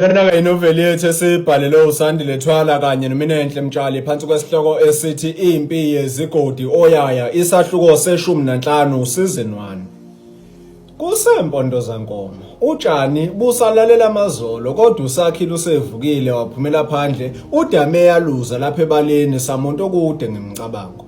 Lena-ke inoveli yethu esibhalelwe uSandile Thwala kanye noMinenhle Mtshali phansi kwesihloko esithi Impi Yezigodi Oyaya isahluko seshumi nanhlanu season 1. Kusempondo zankomo. Utshani busalalela amazolo kodwa usakhile usevukile waphumela phandle udame yaluza lapha ebaleni samuntu okude ngemicabango.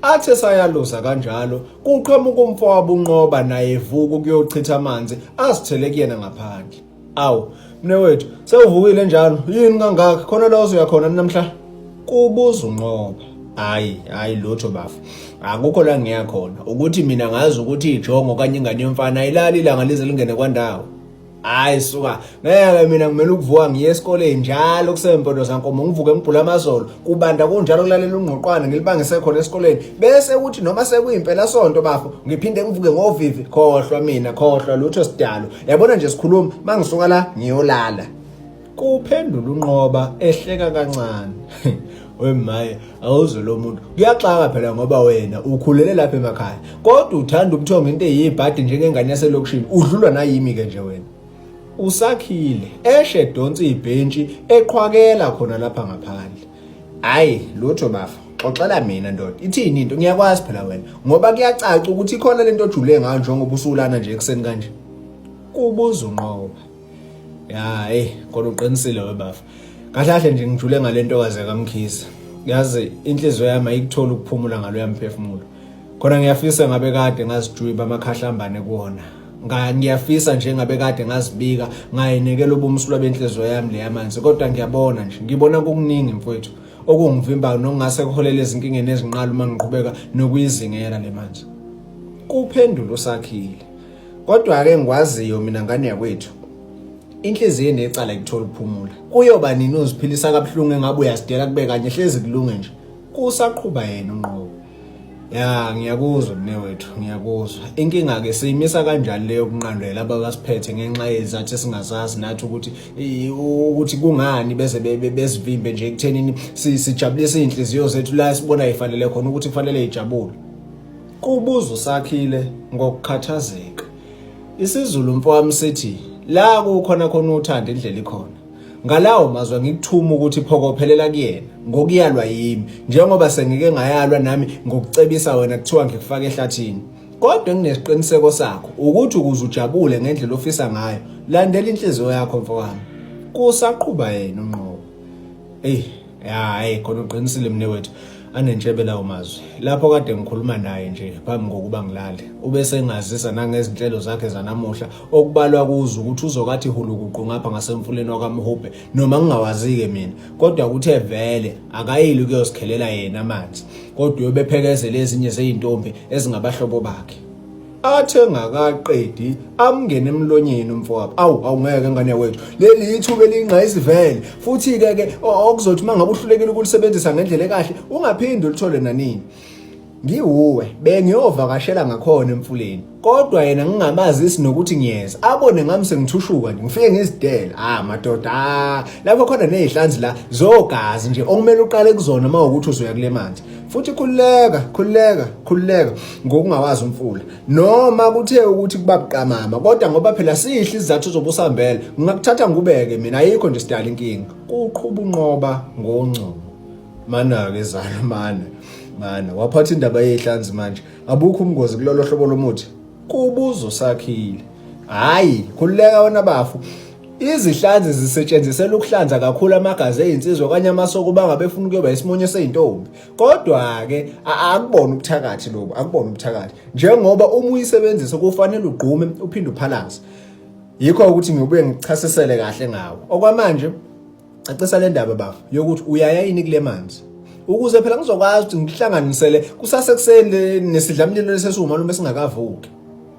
Athe sayaluza kanjalo kuqhamuka umfowabo unqoba naye evuka ukuyochitha amanzi azithele kuyena ngaphandle. Awu, mnewethu, sewuvukile njalo. Yini kangaka? Khona la ozoya khona namhla? Kubuza uNqoba. Hayi, hayi lutho bafu. Akukho la ngiya khona. Ukuthi mina ngazi ukuthi ijongo okanye ingane yomfana ayilali ilanga lize lingene kwandawo. Hayi suka. Ngeke mina ngimele ukuvuka ngiye esikoleni njalo kusempondo zankomo ngivuke ngibhula amazolo. Kubanda kunjalo kulalela ungqoqwana ngilibangise khona esikoleni. Bese ukuthi noma sekuyimpela sonto bafo ngiphinde ngivuke ngovivi khohlwa mina khohlwa lutho sidalo. yabona nje sikhuluma mangisuka la ngiyolala kuphendula unqoba ehleka kancane wemaye awuze lo muntu kuyaxaka phela ngoba wena ukhulele lapha emakhaya kodwa uthanda ubuthongo into eyibhadi njengengane yaselokishini udlulwa nayimi ke nje wena usakhile eshe donsa ibhentshi eqhwakela khona lapha ngaphandle hayi lutho bafa xoxela mina ndoda ithini into ngiyakwazi phela wena ngoba kuyacaca ukuthi ikhona lento ojule ngayo njengoba usulana nje ekuseni kanje kubuza unqoba ya eh kodwa uqinisile webafa kahle kahle nje ngijule ngalento kaze kamkhisi yazi inhliziyo yami ayikuthola ukuphumula ngalo yamphefumulo khona ngiyafisa ngabe kade ngazijwiba amakhahlambane kuwona ngiyafisa nje ngabe kade ngazibika ngayinekela ubumsulwa benhliziyo yami le yamanzi kodwa ngiyabona nje ngibona kukuningi mfowethu okungivimbayo nokungase kuholele ezinkingeni ezinqala uma ngiqhubeka nokuyizingela le manje kuphendula usakhile kodwa-ke ngikwaziyo mina ngane yakwethu inhliziyo enecala ikuthola ukuphumula kuyoba nini uziphilisa kabuhlungu engabe uyasidela kube kanye hlezi kulunge nje kusaqhuba yena unqobo Ya ngiyakuzwa mnewethu ngiyakuzwa inkinga ke siyimisa kanjani leyo kunqandela abakasiphethe ngenxa yezathu esingazazi nathi ukuthi ukuthi kungani beze bezivimbe nje ekuthenini sijabulise izinhliziyo zethu la sibona ifanele khona ukuthi kufanele ijabule kubuza usakhile ngokukhathazeka isizulu mfowami sithi la kukhona khona uthanda indlela ikhona Ngalawo mazwi ngikuthuma ukuthi phokophelela kuyena ngokuyalwa yimi njengoba sengike ngayalwa nami ngokucebisa wena kuthiwa ngikufaka ehlathini. Kodwa enginesiqiniseko sakho ukuthi ukuze ujabule ngendlela ofisa ngayo landela inhliziyo yakho mfowami. Kusaqhuba yena unqobo. Ey hayi khona uqinisile mne wethu anentshebe lawo mazwi lapho kade ngikhuluma naye nje phambi kokuba ngilale ube sengazisa nangezinhlelo zakhe zanamuhla okubalwa kuzo ukuthi uzokathi hulukuqu ngapha ngasemfuleni wakamhubhe noma ngingawazike mina kodwa kuthe vele akayili ukuyosikhelela yena amanzi kodwa uyobephekezela ezinye zeyintombi ezingabahlobo bakhe athi engakaqedi amngene emlonyeni umfowabo awu awungeke ngane wethu leli ithuba elingqayisi vele futhi-ke ke okuzothi uma ngabe uhlulekile ukulisebenzisa ngendlela ekahle ungaphinde ulithole nanini ngiwuwe bengiyovakashela ngakhona emfuleni kodwa yena ngingamazisi nokuthi ngiyeza abone ngami sengithushuka nje ngifike ngizidela ah madoda ah, lapho khona nezihlanzi la zogazi nje okumele uqale kuzona uma ukuthi uzoya kule manje futhi khululeka khululeka khululeka ngokungawazi umfula noma kuthe ukuthi kuba buqamama kodwa ngoba phela sihle isizathu zobusambela ngingakuthatha ngubeke mina ayikho nje sidala inkinga kuqhuba unqoba ngongcobo mana-ke zalo mana mana waphatha indaba yey'hlanzi manje abukho umngozi kulolo hlobo lomuthi kubuzo sakhile hhayi khululeka wena bafu Izihlanzi zisetshenziselwa ukuhlanza kakhulu amagazi ezinsizwa okanye amasoko uma ngabe efuna ukuyoba isimonyo seyintombi. Kodwa-ke akubona ubuthakathi lobu, akubona ubuthakathi. Njengoba uma uyisebenzisa kufanele ugqume uphinde uphalaze. Yikho ukuthi ngiyobuye ngichasisele kahle ngawo. Okwamanje cacisa le ndaba bafo yokuthi uyaya yini kule manzi ukuze phela ngizokwazi ukuthi ngihlanganisele kusasekuseni nesidlamlilo lesesiwumalume lume singakavuki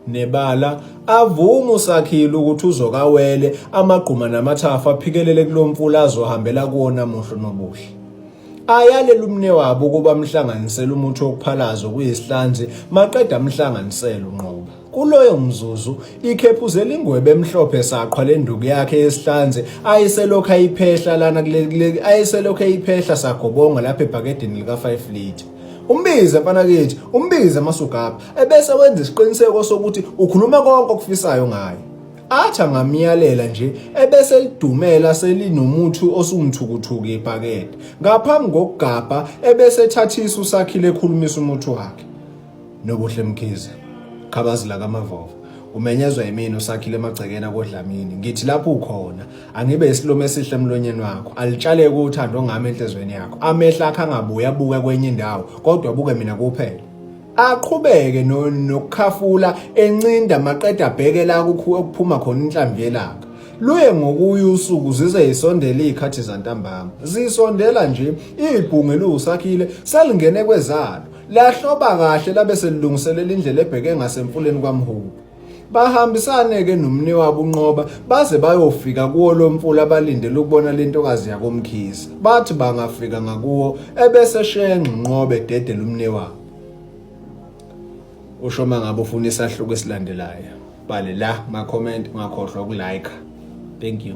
nebala avuma usakhile ukuthi uzokawele amagquma namathafa aphikelele kulomfula azohambela kuwona muhlo nobuhle ayalela umne wabo ukuba amhlanganisele umuthi wokuphalaza okuyisihlanzi maqeda amhlanganisele unqoba Kuloyo mzuzu ikhephuze lingwebe emhlophe saqhwa lenduku yakhe yesihlanze ayiselokhu ayiphehla lana kuleli ayiselokhu ayiphehla sagobonga lapha ebhakedeni lika 5 liter umbize mfana kithi umbize masugaba ebese wenza isiqiniseko sokuthi ukhuluma konke okufisayo ngaye atha ngamyalela nje ebese lidumela selinomuthi osumthukuthuku ibhakede ngaphambi kokugabha ebese ethathisa usakhile ekhulumisa umuthi wakhe Nobuhle Mkhize Khabazila kaMavova umenyezwa yimina usakhile emagcekeni akodlamini ngithi lapho ukhona angibe isilume esihle emlonyeni wakho alitshaleke uthando ngami enhlizweni yakho amehla akhe angabuye abuke kwenye indawo kodwa abuke mina kuphela aqhubeke nokukhafula encinda maqeda abheke la kuphuma khona inhlambi yelanga luye ngokuya usuku zize yisondele izikhathi zantambama zisondela nje ibhunge lusakhile selingene kwezalo Lahloba kahle labe selilungiselela indlela ebheke ngasemfuleni kwaMhubu. Bahambisane-ke nomni wabo unqoba baze bayofika kuwo lo mfula balindele ukubona le ntokazi yakomkhize. Bathi bangafika ngakuwo ebese shenxa unqoba ededela umni wabo. Usho uma ngabe ufuna isahluko esilandelayo. Bhale la ma-comment ungakhohlwa ukulike. Thank you.